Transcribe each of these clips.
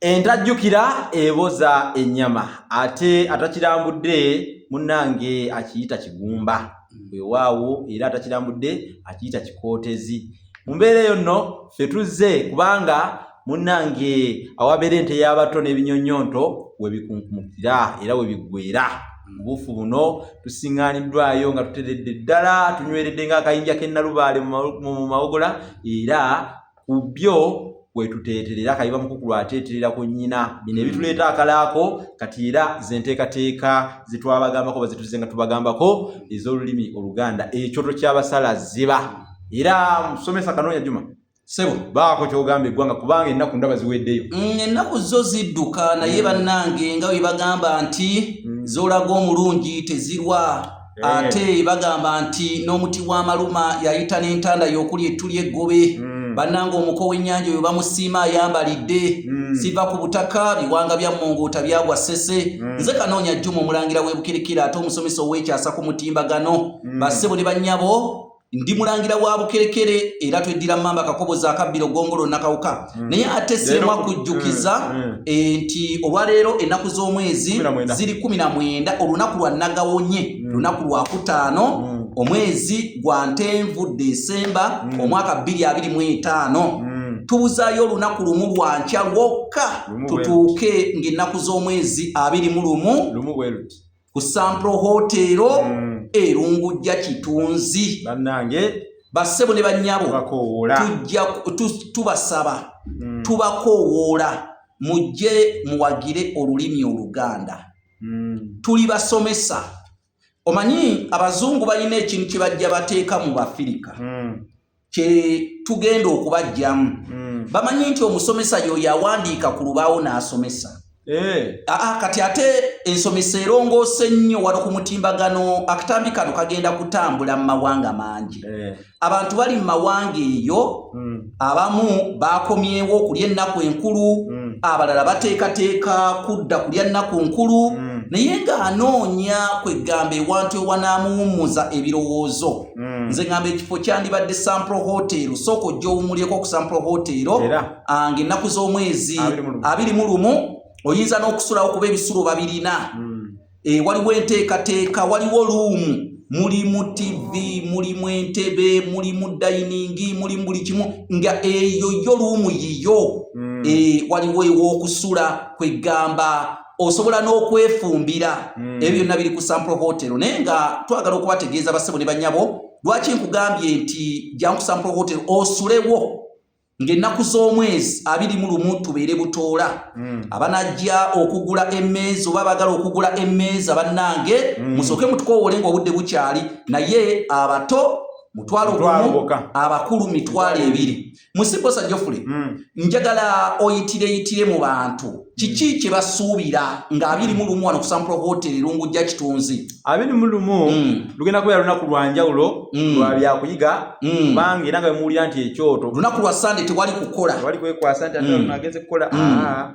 Entajjukira eboza ennyama ate atakirambudde munnange akiyita kigumba weewaawo era atakirambudde akiyita kikootezi mu mbeera eyo nno ffe tuzze kubanga munnange awabeera ente y'abato n'ebinyonyonto we bikunkumukira era we biggweera mubuufu buno tusiŋŋaaniddwayo nga tuteredde ddala tunyweredde ng'akayinja k'ennalubaale mu mawogola era ku byo kwetuteeterera kayiba mukukulu ateeterera ku nnyina bino ebituleeta akalaako kati era zenteekateeka zetwabagambako bazituze nga tubagambako ez'olulimi oluganda ekyoto ky'abasala ziba era musomesa kanoonya juma sebo baako kyogamba eggwanga kubanga ennaku ndaba ziweddeyo mm, ennaku zo zidduka naye mm. bannange nga bwe bagamba nti mm. zolaga omulungi tezirwa ate bagamba nti n'omuti w'amaluma yayita n'entanda y'okuli ettu ly'eggobe hmm. bannanga omuko w'ennyanja oyo bamusiima ayambalidde hmm. siva ku butaka biwanga bya mmongoota byagwa ssese hmm. nze kanoonya jjuma omulangira w'ebukirikira ate omusomesa ow'ekyasa ku mutimbagano bassebo ne bannyabo ndi mulangira wa bukerekere era tweddira mamba kakobo za kabbiro gongolo nakawuka mm. naye ate sirimwa kujjukiza mm. mm. e, nti olwaleero ennaku z'omwezi ziri kumi na mwenda olunaku lwa nagawonye mm. lunaku lwa kutaano mm. omwezi gwa ntenvu desemba mm. omwaka bbiri abiri mu etaano mm. tubuzayo olunaku lumu lwa nkya lwokka tutuuke ng'ennaku z'omwezi abiri mu lumu ku sampro hoteero mm. erungujja kitunzi bannange bassebo ne bannyabo tubasaba mm. tubakoowoola mujje muwagire olulimi oluganda mm. tuli basomesa omanyi abazungu balina ekintu kye bajja bateeka mu bafirika mm. kyetugenda okubajjamu mm. bamanyi nti omusomesa yoyo awandiika ku lubaawo n'asomesa hey. Eh. Aa, ah, ah, kati ate ensomesa erongoose nnyo wali ku mutimbagano akatambi kano kagenda kutambula mu mawanga mangi hey. Eh. abantu bali mu mawanga eyo mm. abamu bakomyewo okulya ennaku enkulu mm. abalala bateekateeka kudda kulya nnaku nkulu mm. naye ng'anoonya kwegamba ewantu ewanamuwummuza ebirowoozo mm. nze ngamba ekifo kyandibadde sampro hotel sooka ojja owumulyeko ku sampro hotel ah, nga ennaku z'omwezi abiri mu lumu oyinza n'okusulawo kuba ebisulo babirina mm. eh, waliwo enteekateeka waliwo luumu mulimu tv mulimu entebe mulimu dayiningi mulimu buli kimu nga eyo yo luumu yiyo mm. eh, waliwo ew'okusula kwegamba osobola n'okwefumbira mm. ebyo byonna biri ku sample hotel naye nga twagala okubategeeza basebo ne banyabo lwaki nkugambye nti jangu sample hotel osulewo ng'ennaku z'omwezi abiri mu lumu tubeere butoola mm. abanajja okugula emmeeza oba bagala okugula emmeeza bannange mm. musooke mutukowoole ng'obudde bukyali naye abato mutwalo gumu abakulu mitwalo ebiri musibosa jofule mm. njagala oyitireyitire mu bantu hmm. kiki mm. kyebasuubira nga abiri mu lumu wano kusampula hoteri lungu ja kitunzi abiri mu lumu mm. lugenda kubeera lunaku lwa njawulo mm. lwa byakuyiga hmm. kubanga mm. era nga bemuwulira nti ekyoto lunaku lwa sande tewali kukola tewali kwekwasa nti mm. agenze kukola mm.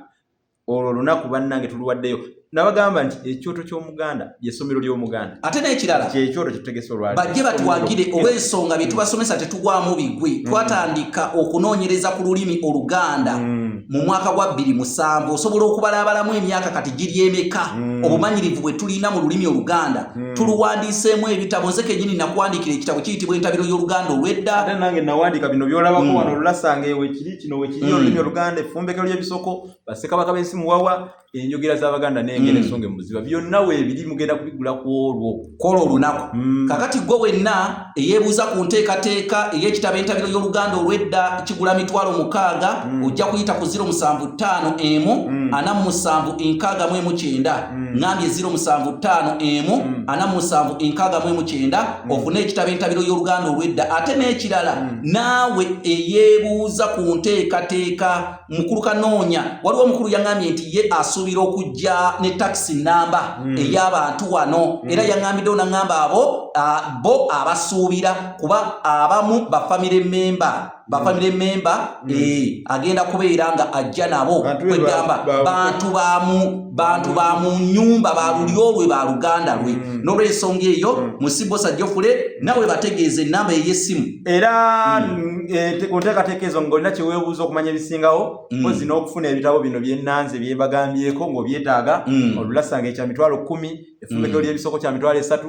olwo olunaku bannange tuluwaddeyo nabagamba nti ekyoto ky'omuganda lyessomero ly'omuganda ate n'ekirala kyekyoto kyetutegese olwali bajje batuwagire oba ensonga bye tubasomesa tetugwamu bigwi mm. twatandika okunoonyereza ku lulimi oluganda mm. mu mwaka gwa bbiri musanvu osobola okubalaabalamu emyaka kati giryemeka mm. obumanyirivu bwe tulina mu lulimi oluganda tuluwandiiseemu ebitabo nze kenyini nakuwandiikira ekitabo kiyitibwa entabiro y'oluganda olw'edda nange nawandiika bino byolabako wano olulasanga ewe kiri kino wekiri olulimi oluganda effumbekero ly'ebisoko basekabaka bensi muwawa enjogera zabaganda nengera mm. ensonga emuziba byonna webiri mugenda kubigula ku olwo kola olunaku mm. kakati gwe wenna eyebuuza ku nteekateeka eyekitabo entabiro y'oluganda olwedda kigula mitwalo mukaaga mm. ojja kuyita ku ziro musanvu ttaano emu mm. ana mu musanvu enkaaga mu emu kyenda mm. ngambye ziro musanvu ttaano emu mm. ana mu musanvu enkaaga mu emu kyenda mm. ofune ekitabo entabiro y'oluganda olwedda ate n'ekirala mm. naawe eyebuuza ku nteekateeka mukulu kanoonya waliwo omukulu yaŋambye nti ye asuubira okujja ne takisi namba mm. ey'abantu wano mm. era yaŋambiddewo naŋamba abo bo abasuubira kuba abamu bafamire memba bafamire mm. memba mm. e, agenda kubeera nga ajja nabo kwegamba bantu bamu bantu ba mu nyumba ba lulyo lwe ba luganda lwe mm. nolwensonga eyo mm. musibo sajjofule nawe bategeeze enamba ey'essimu era mm. eh, ku nteekateeka ezo ng'olina kye weebuuza okumanya ebisingawo mpozi n'okufuna ebitabo bino byennanze bye mbagambyeko ng'obyetaaga olulasanga ekya mitwalo kkumi efumbekewo ly'ebisoko kya mitwalo esatu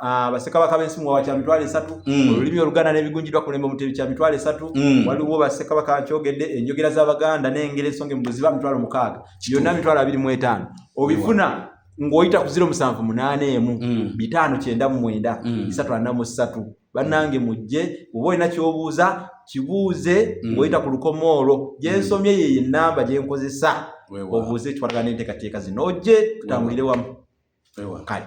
Ah, basekabaka b'ensi muwawa kya mitwalo esatu mm. olulimi oluganda n'ebigunjidwa kulemba omutebi kya mitwalo esatu mm. waliwo basekabaka nkyogedde enjogera z'abaganda n'engeri ensonga emubuziba mitwalo mukaaga yonna mitwalo abiri mu etaano obifuna ng'oyita ku ziro musanvu munaana emu mm. bitaano kyenda mu mwenda bisatu ana mu ssatu bannange mujje oba olina ky'obuuza kibuuze ng'oyita ku lukomo olwo gyensomye yeyo ennamba gye nkozesa obuuze ekikwatagana n'enteekateeka zino ojje tutambulire wamu kale